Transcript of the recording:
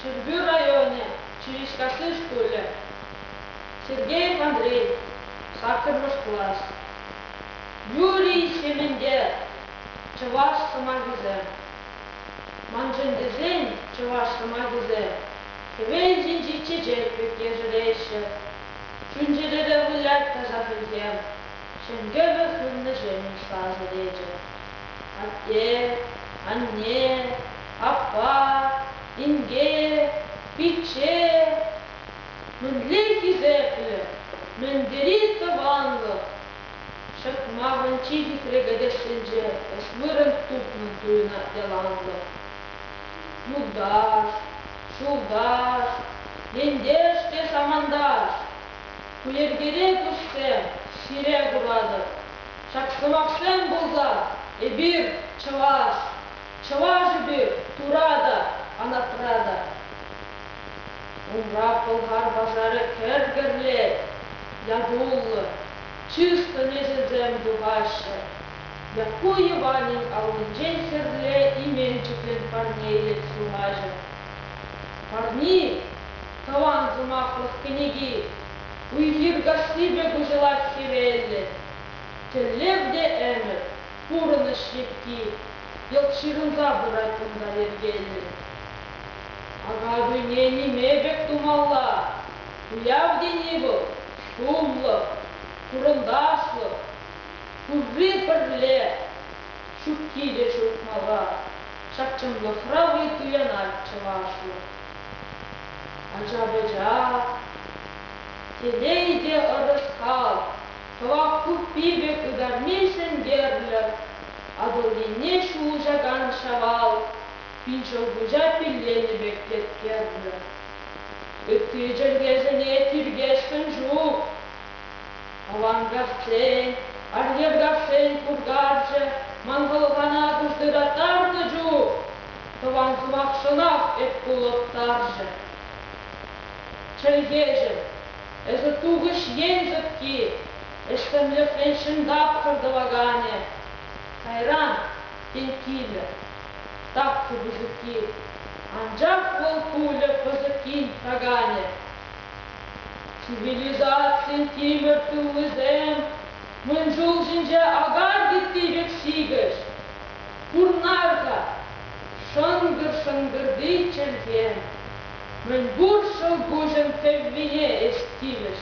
Ҫӗрпӳ районӗ Чириккасси шкулӗ, Сергеев Андрей, саккӑрмӗш класс. Юрий Ҫементе, чӑваш сӑмахӗсем. Маншӑн тесен чӑваш сӑмахӗсем хӗвел ҫинчи чечек пек ешереҫҫӗ. Чун-чӗрере вылять таса хӗлхем, ҫӗнтерӳ суннӑ ҫемҫ сасӑ речӗ. Атте, анне, Аппа, инке, пичче, мӗнле хисеплӗ, мӗн тери тӑванлӑх! ҫӑтмахӑн чи хитре кӗтесӗнче ӗҫ вырӑн тупнӑн туйӑнать яланлӑх. Юлташ, ҫулташ, ентеш те саманташ, ку йӗркере туссем ҫире пыратӑр. Ҫак сӑмахсем пулса эпир, чӑваш, Чӑвашӗпе тура та, анапра та. Ура Пӑлхар пашарӗ кӗр-кӗрлет, ятуллӑ, чыслӑ неҫӗсем тухаҫҫӗ. Якку Йӑванӗн аллинчен хӗрле именчӗклӗн парнелет сӑмахӗ. Парни, тӑван сӑмахлӑх кӗнеки. Уй-хир касси пек уҫӑлать хӗвеллӗн. Тӗллев те ӗмӗт, Пурӑнӑҫ йӗпки йӑлт ҫырӑнса пырать кунта йӗркеллӗн. Акатуйне ниме пек тумалла, туяв тени вӑл, шумлӑх, хурӑнташлӑх, пурри пӗрле, ҫукки те ҫук мала, ҫак чӑнлӑхра-и туянать чӑвашлӑх. Ача-пӑча, телей те ӑрӑс кал, Кӑвак туппи пек ытарми ҫӗнтерлӗ, Атӑл енне ҫулӑшакан Ҫавал, пин ҫӑлкуҫа пилленӗ пек еткерлӗ. Ытти чӗлхесене тиркесшӗн ҫук. Авангарччен, Арьеркашсен куркарчӗ ман хӑлхана куштӑраттарнӑ чух тӑван сӑмахшӑнах эп кулӑттарчӗ. Чӗлхеҫӗм, Эсӗ Тухӑҫ ен сӑпки, ӗҫсемлӗхрен ҫӗн тапхӑр тӑваканӗ. Кайран, тен, килӗ. Тапхӑ пысӑкки. Анчах вӑл пулӗ пысӑккин таканӗ. Цивилизацин тимӗр тыллисем мӗн ҫул ҫинче акар тетти пек сикӗҫ. Курнар-ха, шӑнкӑр-шӑнкӑрти чӗлхем Мӗнпур ҫӑлкуҫӑн тӗввине ӗҫ килӗш.